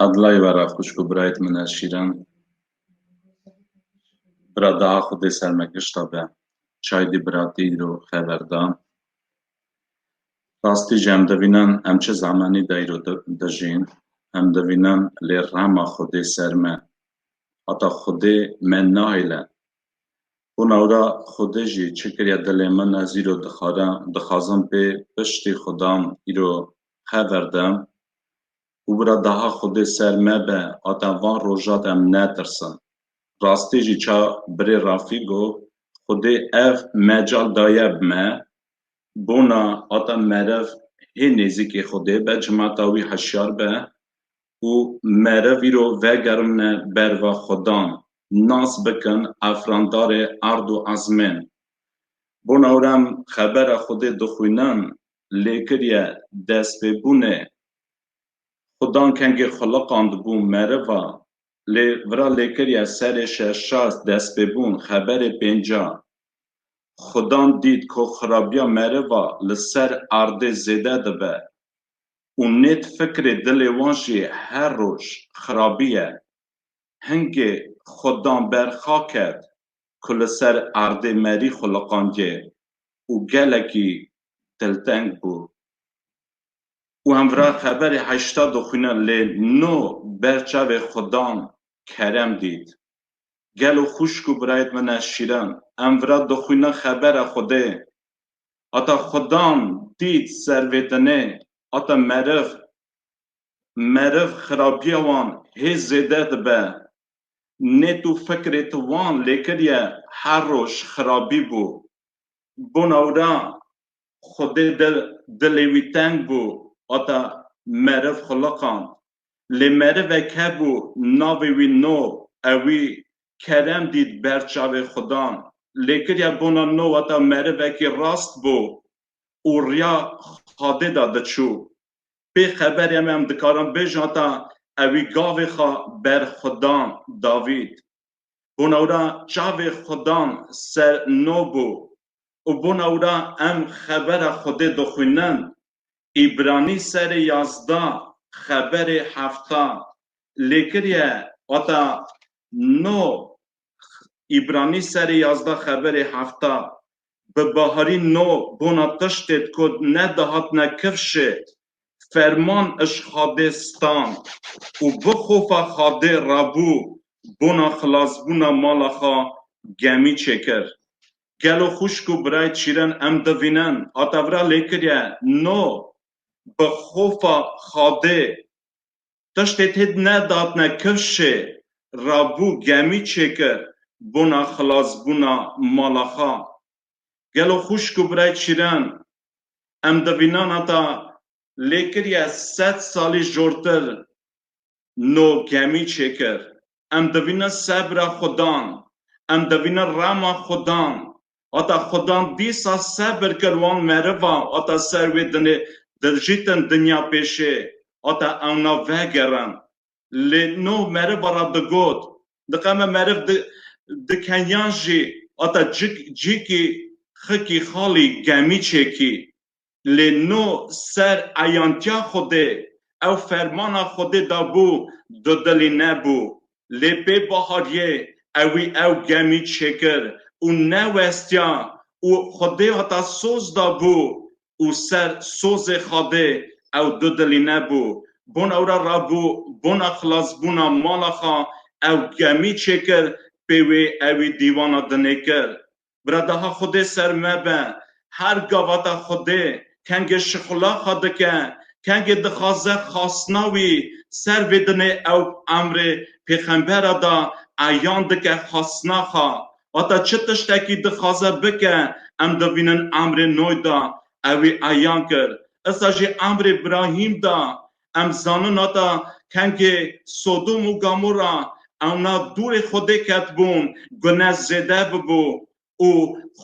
Adlay vera xwişk û birayê min e Şîran. Bira daha xwe dê ser me gişta be. Çay dî biratî îro xeber da. Rastî jî em divînan em çi zemanî de îro dijîn. Em divînan lê rama Xwedê ser me. Heta Xwedê me nahêle. Hûn ewra Xwedê jî çi kiriye dilê min ez îro dixwara dixwazim pê piştî Xwedan îro xeber da. û wira daha Xwedê ser me be hata van roja de em netirsin. Rastî jî ça birê Rafî got, Xwedê ev mecal daye bi me, bona hata meriv hê nêzîkê Xwedê be, cimata wî hişyar be û meriv îro vegermne ber va xwedan, nas bikin Efrandarê erd û ezmên. Bona wira em xebera Xwedê dixwînin lê kiriye destpêbûnê xwe dan kengê xiliqan dibû meriva lê vira lê kiriye serê şeşas destpêbûn xeberê pênca xwe dan dît ku xirabiya meriva li ser erdê zêde dibe û nêt fikrê dilê wan jî her roj xirabiye hingê xwe dan ber xa ket ku li ser erdê merî xiliqandiye û gelekî telteng bû û hemvira qeberê heşta doxuynan lê no ber çavê xwe dan kerem dît. Gelo xwişk û birayet min e şîran, hemvira doxuynan xebera xwedê hata xwedan dît ser vê tenê hata meriv, meriv xirabiya wan hê zêde dibe. Nêt û fikirê ti wan lêkiriye her roj xirabî bû. Bona wira Xwedê dilê wî teng bû hata meriv xuliqand. Lê merivek hebû navê wî No ew wî kerem dît ber çavê Xwedan. Lêkiriya bona No hata merivekî rast bû û riya Xwedê de diçû. Pê xeberê em em dikarin bêjin hata ew wî gavê xwe ber Xwedan davît. Bona wira çavê xwe dan ser Nobu û bona wira em xebera Xwedê dixwînin. Îbranî serê yazda xeberê hefta lê kiriye. Wata no Îbranî serê yazda xeberê hefta bi baharî no bona tiştê kod ne dihatine kifşê Ferman iş xadê stan û bi xofa xadê rabû bona xilasbûna mala xwe gemî çêkir. Gelo xwişk û birayê çîren em divînin a tevra lêkiriye no bi xofa xadê tiştê têd nedatne kifşê rabû gemî çêkir bona xilasbûna mala xwe. Gelo xwişk û birayê çîren em di vînan heta lêkiriye sed salî jortir no gemî çêkir? Em di vînan sebira xwe dan, em di vînan rema xwe dan. Heta xwe dan dîsa sebir kir wan meriva heta ser wê dinê dirjîtin dinya pêşê heta ewna vegerin. Lê no meriva ra digot, diqeme meriv di di kenyan jî ata cik cîkî xikî xalî gemî çêkî. Lê no ser eyantiya Xwedê ew fermana Xwedê da bû di dilî nebû. Lê pê Bahariyê ewî ew gemî çêkir û newestiya û Xwedê ata soz da bû û ser sozê Xwedê ew dudilî nebû. Bon ew re rabû bona xilasbûna mala xwe ew gemî çêkir pê wê ewî dîwana dinê kir. Bradaha Xwedê ser me be, her gavata Xwedê kengê şixula xwe dike, kengê dixwaze xastina wî ser vê dinê ew emrê pêxembera da eyan dike xastina xwe Hata çi tiştekî dixwaze bike em dibînin emrê noy da ewî eyan kir. Issa jî emrê Brahîm da. Em zanin hata kengê Sodom û Gamora ewna dûrê Xwedê ketibûn gune zêde bibû û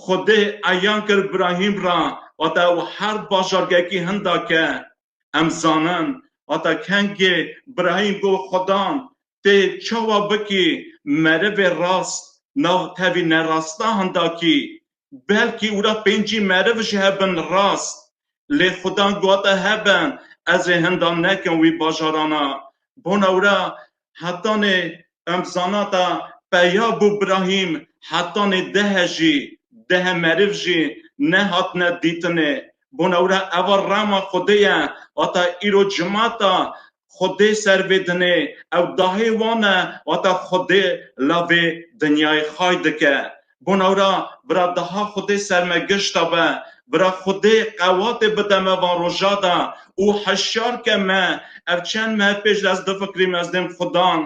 Xwedê eyan kir Brahîm ra hata ew her bajargekî hinda ke Em zanin hata kengê birayîn ku Xwedan tê çawa bikî merivê rast nav tevî nerasta hindakî. Belkî wira pêncî meriv ji hev bin rast. Lê Xwedan guhata hev bin ez ê hinda nekin wî bajarana. Bona wira Hetanê em zanata peya bû Brahîm hetanê dehe jî dehe meriv jî nehatine dîtinê. Bona wira eva rama Xwedê ye wata îro cimata Xwedê ser vê dinê ew dahê wan e wata Xwedê la vê dinyayê xay dike. Gon ew ra bira daha Xwedê ser me gişta be, bira Xwedê qewatê bide me van roja de û heşyar ke me, ev çend mehe pêş de ez difikirîm ez dêm Xwedan,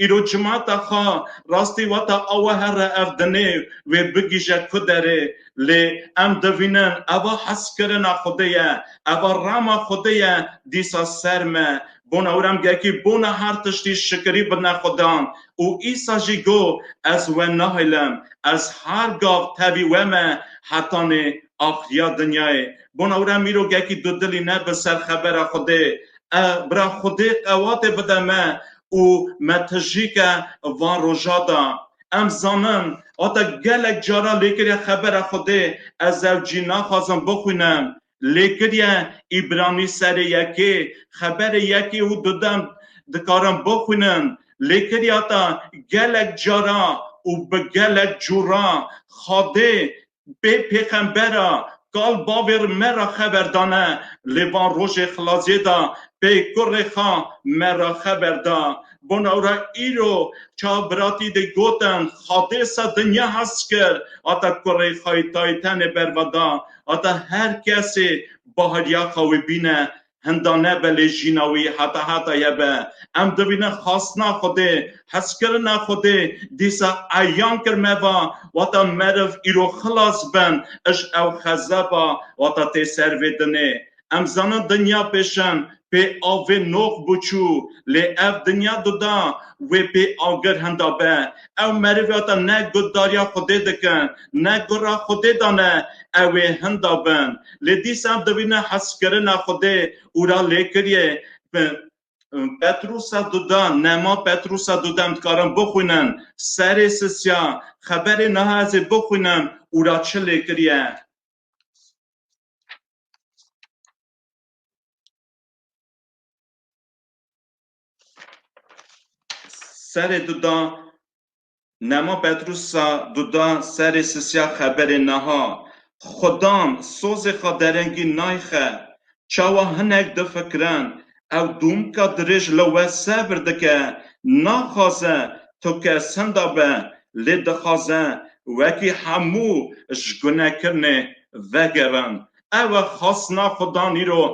îro cimata xwe rastî weta awe herre ev dinê wê bigîje ku derê. Lê em divînin eva heskirina Xwedê ye, eva rama Xwedê ye dîsa ser me Bona wî remgekî bona her tiştî şikirî birine Xudan û Îsa jî got, Ez we nahêlim, ez her gav tevî we me hetanê axiriya dinyayê. Bona wî re mîrogekî dudilî nebe ser xebera Xwedê. E, bira Xwedê qewatê bide me û me tijîke van roja da. Em zanin, hate gelek cara lêkirî xebera Xwedê, ez ew cî naxwazim bixwînim. Lê kiriye îbranî serê yekê, xeberê yekê û dudan dikarin bixwînin. Lê kiriya ta gelek cara û bi gelek cû ra Xadê bê pêxembera kal bavê ri me ra xeber dane. Lê van rojê xilasiyê da pê kurê xa me ra xeber da. Bona û ra îro ça viratî dê gotin Xadê se dinya hes kir hata kurê xayî tayî tenê berva da. Heta her kesê baheryaxa wê bîne, hinda nebe lê jîna wî heta heta ye be. Em dibînin xastina Xwedê, hezkirina Xwedê dîsa eyan kir me va, wata meriv îro xilas ben, iş ew xezeba wata tê ser vê dinê. Em zanin dinya pêşan pê avê nox bû çû lê ev dinya duda wê pê agir hinda be. Ew merivata ne guhdarîya xwedê dikin ne guh ra xwedê dane ew ê hinda bin. Lê dîsa dibîne heskirina xwedê û ra lêkiriyê bi Petrusa duda nema Petrusa duda em dikarin bixwînin serê sisya xeberê niha ez ê bixwînim û ra çi lêkirîye. Serê duda Nema Petrusa duda serê sisya xeberê neha Xudan sozê xaderengî nayxe Çawa hinek difikirin ew domka dirêj li we sebir dike, naxwaze tu kesinda be, lê dixwaze wekî hemû ji gunekirinê vegerin. Ew e xwestina Xudan îro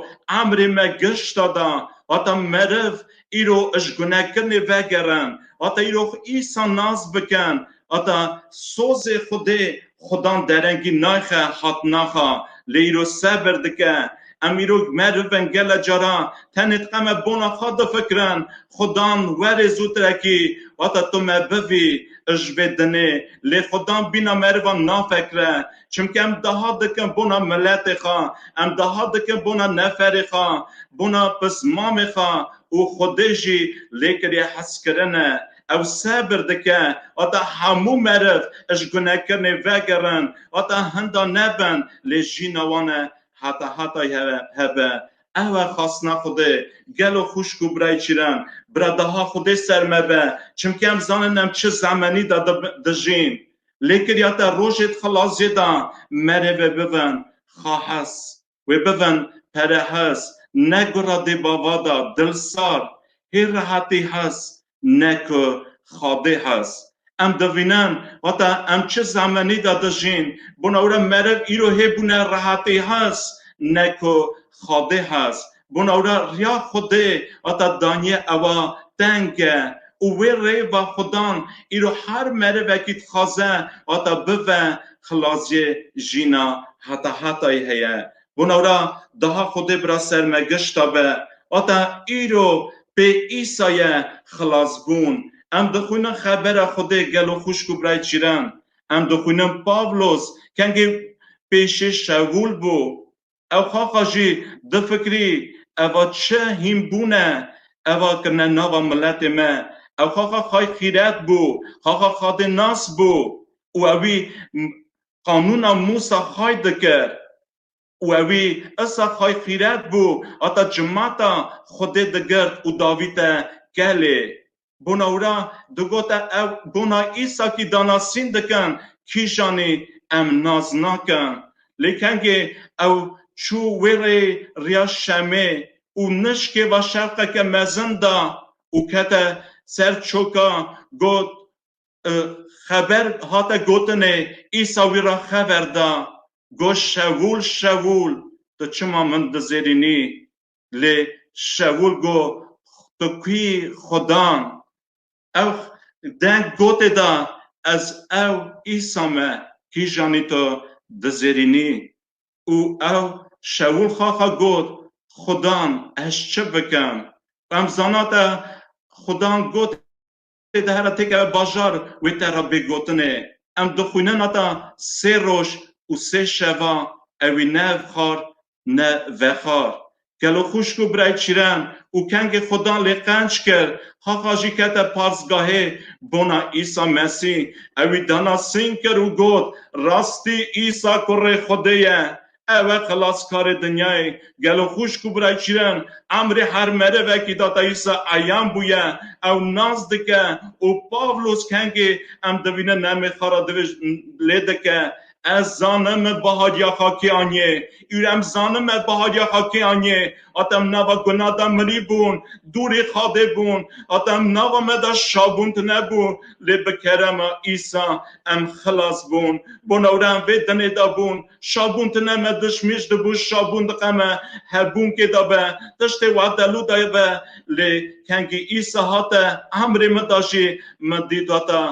emrê me gişta da, hata meriv îro ji gunekirinê vegerin, hata îro xwe Îsa nas bikin Ata sozê xwedê xwedan derengî nayxe hat naxa lê îro sebir dike. Em îro meriv in gele caran tenê diqeme bona xwe difikirin. Xwedan werê zûtirekî ata tu me bivî ji vê dinê lê xwedan bîna merivan nafekire. Çimke em daha dikin bona miletê xwe, em daha dikin bona neferê xwe, bona pismamê xwe û xwedê jî lê kiriye heskirine. ew sebir dike heta hemû meriv ji gunekirinê vegerin heta hinda nebin lê jîna wan e heta hetay hebe ew e xastina xwedê gelo xwişk û birayê çîran bira daha xwedê ser me be çimkî em zanin em çi zemenî de dijîn lê kirîya te rojê di xilaziyê de merivê bibin xahes. Wê bivin pere hez, ne gura dê bava da, dil sar, hê rehetî hez, ne ku xadê hez. Em divînin, hata em çi zemenî da dijîn, bona were meriv îro hê bûne rehetî hez, ne ku xadê hez. Bona were riya Xwedê hata daniyê ewa teng e Û wê rêva Xudan îro her merivekî dixwaze hata bive xilascê jîna heta hetayî heye. Bona ra daha Xwedê bira ser me gişta be. Hata îro pê Îsa ye xilas bûn. Em dixwînin xebera Xwedê gelo xwişk û birayê çîren. Em dixwînin Pavlos kengê pêşê Şewûl bû. Ew xaxa jî difikirî eva çi hîn bûn e eva kirine nava miletê me. Ew xaxa xay xîret bû, xaxa xadê nas bû û ewî qanûna Mûsa xay dikir û ewî Îsa xay xîret bû hata cimata Xwedê digirt û davîte kelê. Bonawra digote ew gona Îsakî da nasîn dikin, kîjanî em nas nakin. Lê kengê ew çû wê rê riya Şemê û nişkê va şerqeke mezin da û kete ser çoka got xeber hate gotinê Îsa wî ra xever da, got Şewûl, Şewûl, tu çima min dizêrînî? Lê Şewil got, Tu kî xudan? Ew deng gotê da, Ez ew Îsa me, kîjanî tu dizêrînî. Û ew Şewil xaxa got, Xudan, ez çi bikim? Em zana te xudan gotê Tê de here têkeve bajar wê te re bê gotinê. Em dixwînin heta sê roj û sê şeva ewî ne ev xar ne vexar. Gelo xuşk û birayê çîren û kengê xwe dan lê qenc kir. Xaxa jî kete parsgahê bona Îsa Mesî. Ewî dana sîn kir û got, Rastî Îsa kurê Xwedê ye. Ew e xilaskarê dinyayê. Gelo xwişk û birayê şîrin Emrî her merivekî Datayusa eyan bûye. Ew nas dike û Pavlos kengê em divînin nemê xwe re divij lê dike. Ez zanim min bahariya xwe kê aniyê. Îro em zanim me bahariya xwe kê aniyê. Hate em nava guna de mirî bûn, dûrê xadê bûn. Hate em nava me de şabûn tune bû. Lê bi kerema Îsa em xilas bûn. Bonewre em vê dinê de bûn. Şabûn tine me diş mîş dibû şabûn diqeme hebûnkê de be tiştê wa delû de be lê kengî îsa hate emrê min de jî min dî data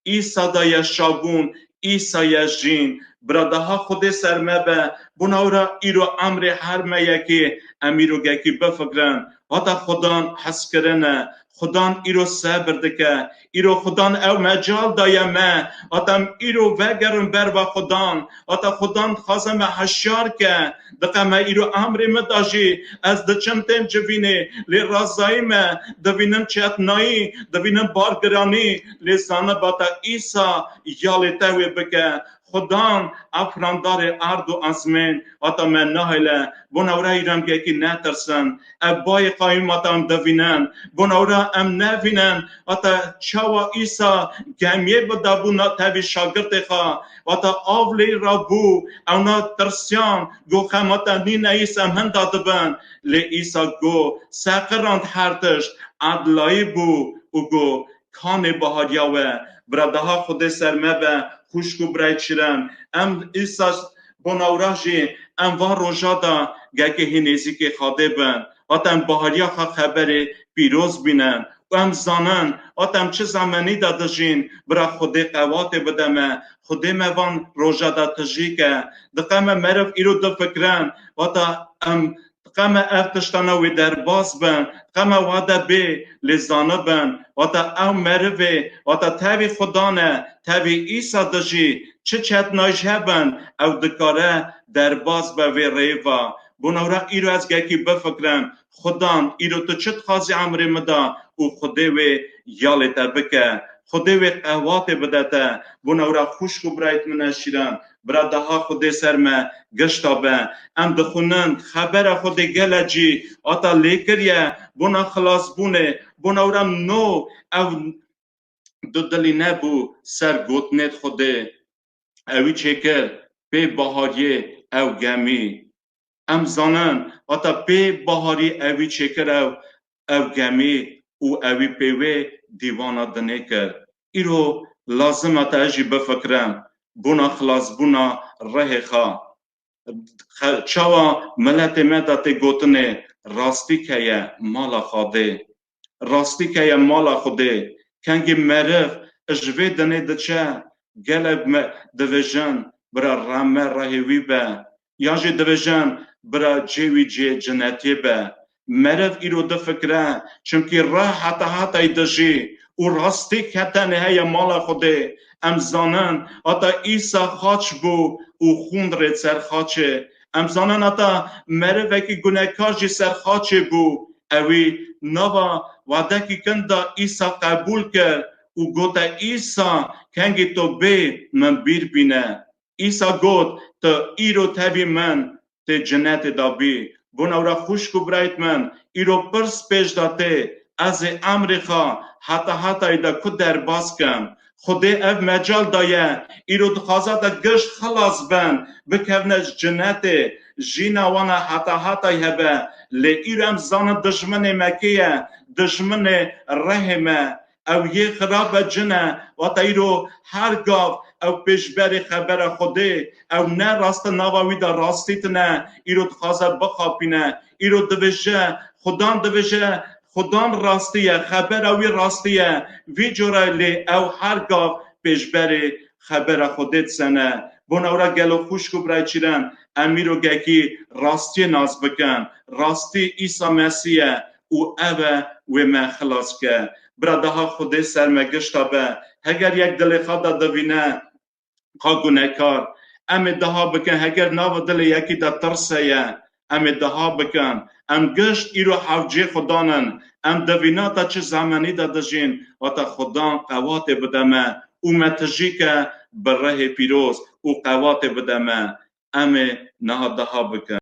îsa de ye şabûn îsa ye jîn bira daha xwedê ser me be bona wira îro emrê her me yekê em îro gekî bifikirin hata xwedan heskirine Xudan îro sebir dike. Îro Xudan ew mecal daye me. Ata em îro vegerin ber va Xudan. Ata Xudan dixwaze me heşyar ke. Diqe me îro emrê min da jî. Ez diçim tên civînê, lê razayî me. Divînim çetnayî, divînim bargiranî, lê zaniba te Îsa ya lê te wê bike. Xudan a firandarê erd û esmên hata me nahêle, bona wira hî rengekî netirsin. Ev bayê qayûmatan divînin, bona wira em nevînin hata çawa Îsa gemiyê bi dabû na tevî şagirtê xwe hata av lê ra bû. Ewna tirsiyan got xemata nîne î semhinda dibin. Lê Îsa got seqirand her tişt, edlayî bû û got Kanê bahariya we bira daha xwedê ser me be xwişk û birayê çirin em îsas bona wira jî em van roja de gelkê hê nêzîkê xadê bin hat em bahariya xwe xeberê pîroz bînin û em zanin hat em çi zemenî de dijîn bira xwedê qewatê bide me xwedê me van roja de tijî ke diqe me meriv îro difikirin hata em Dixeme ev tiştane wê derbas bin, dixeme wade bê lê zanibin, wata ew merivê, wata tevî xudan e, tevî Îsa dijî, çi çetnayî jî hebin, ew dikare derbas be vê rêva. Bonewra îro ez gekî bifikirim, xudan îro tu çi dixwazî emirê min da û xwedê wê ya lê te bike. Xwedê wê qehwatê bide te. Bonewra xwişk û birayt min e şîran. Bira Deha xwe dê ser me, gişta be. Em dixwînin, xebera xwe dê gele cî hata lêkiriye, bona xilasbûnê, bona wira no ew du dilî nebû ser gotinê xwe dê. Ewî çêkir, pê Bahariyê ew gemî. Em zanin hata pê Baharî ewî çêkir ew ew gemî û ewî pê wê dîwana dinê kir. Îro lazim hata ez jî bifikirim bona xilasbûna rihê xwe. Çawa miletê me de tê gotinê rastî keye mala xwe dê. Rastî ke ye mala Xwedê. Kengî meriv ji vê dinê diçe gelek me dibêjin bira rame rehê wî be yan jî dibêjin bira cê wî cê cinetê be. Meriv îro difikire çimkî reh heta hatayî dijî û rastî ke tenê heye mala Xwedê. Em zanin heta Îsa xaç bû û xûn rê ser xaçê Em zanan heta merivekî gunekar jî ser xaçê bû. Ewî nava wadekî kin da Îsa qebûl kir û gote Îsa kengî to bê min bîr bîne. Îsa got tu îro tevî min tê cinetê da bî. Bonewra xwişk û birayt min îro pir spêj da tê Ez ê Amerîka heta hetayî de ku derbas kim? Xwedê ev mecal daye. Îro dixwaze de gişt xilas bin, bikevne ji cinetê, jîna wan a heta hetayî hebe. Lê îro em zanin dijminê me kê ye? Dijminê rehê me. Ew yê xirab e cin e. Wata îro her gav ew pêşberî xebera Xwedê. Ew ne rast e nava wî de rastî tune. Îro dixwaze bixapîne. Îro divije, Xudan divije, Xudan rastî ye, xebera wî rastî ye, vî cora lê ew her gav pêşberê xebera Xwedê disene. Bona wira gelo xwişk û birayçîren, em îro gehkî rastiyê nas bikin. Rastî Îsa Mesî ye û ev e wê me xilas bike. Bira de ha Xwedê ser me gişta be, heger yek dilê xwe de divîne, xwe ku nekar. Em ê deha bikin heger nava dilê yekî de tirs heye em ê deha bikin. Em gişt îro hevcê xudan in. Em di vîna de çi zemenî de dijîn wate xudan qewatê bide me û me tijîke bi rihê pîroz û qewatê bide me. Em ê niha deha bikin.